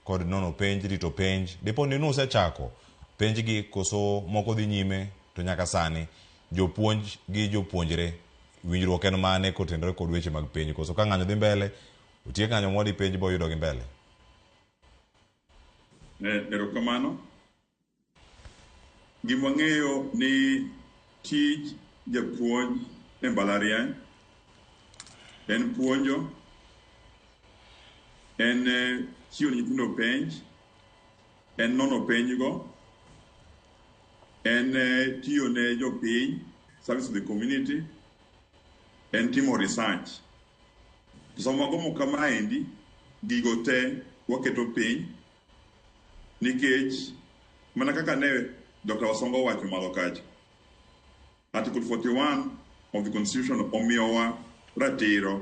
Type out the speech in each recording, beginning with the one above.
kod nono penj rito penj dipo ni nusechako penj gi koso moko dhi nyime to nyaka sani jopuonj gi jopuonjre winjruok en mane kotenore kod weche mag penj koso ka ng'anyo dhi mbele otiek ng'anyo modi penj boyudo gi mbele. Erokamano. Gima wang'eyo ni tij japuonj e mbalariany en puonjo, en chiwo ne nyithindo penj, en nono penjgo, en tiyo ne jopiny, service to the community, en timo research. To sama wagomo kamaendi, gigo te waketo piny Nikech mana kaka ne Dr. Wasonga owacho malo kacha, Article 41 of the Constitution omiyowa ratiro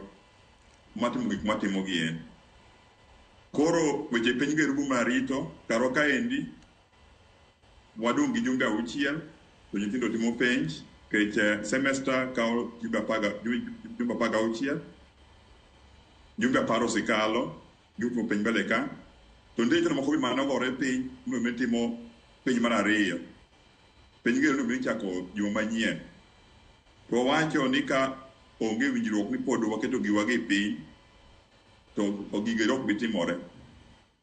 mar timo gik mwatimo gi en. Koro weche piny go erubu mar rito karwa kaendi wadong' gi jumbe auchiel to nyithindo timo penj kech eh, semester kawo jumbe apaga- ju- jumbe apar gauchiel jumbe apar osekalo Yo timo piny mbele ka. To nde chano moko bimana ogore piny no me timo piny mar ariyo. Piny gero no me chako juma manyien. To wawacho ni ka onge winjruok ni pod waketo giwa gi piny to ogigo ero ok bitimore.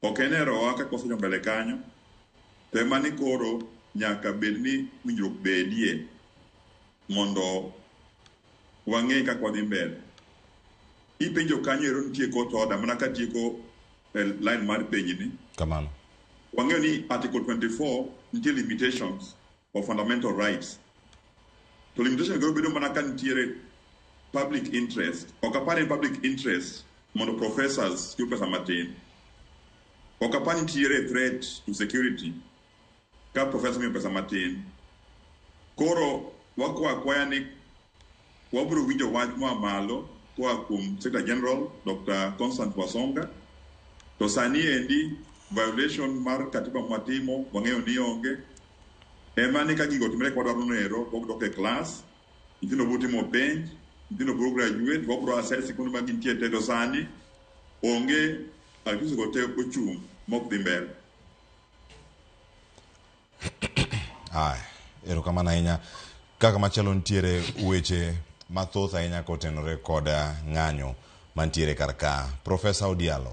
Ok en erowa kaka wasecho mbele kanyo to ema ni koro nyaka bed ni winjruok bedie mondo wang'e kaka wadhi mbele. Ipenjo kanyo ero nitie kot oda mana ka tieko eh, line mar penji ni. Kamano. Wang'eyo ni Article 24 nitie limitations of fundamental rights. To limitation go bedo mana ka nitiere public interest. Ok apar ni public interest mondo professors yud pesa matin. Ok apar ni nitiere threat to security ka professor miyo pesa matin. Koro wakwa akwaya ni Wabiro winjo wach moa malo koa kuom Secretary General Dr. Constant Wasonga. To sani endi violation mar katiba mwatimo wang'eyo ni onge. Ema ni ka gigo otimre kwadwa noero, wabiro dok e klas, nyithindo biro timo penj, nyithindo biro graduate, wabiro assess sikunde ma gintie te to sani onge activities go te ochung' mok dhi mbele. Aya, erokamano ahinya. Kaka machielo nitiere weche mathoth ahinya kotenore kod ng'anyo mantiere kar ka. Profesa Odialo,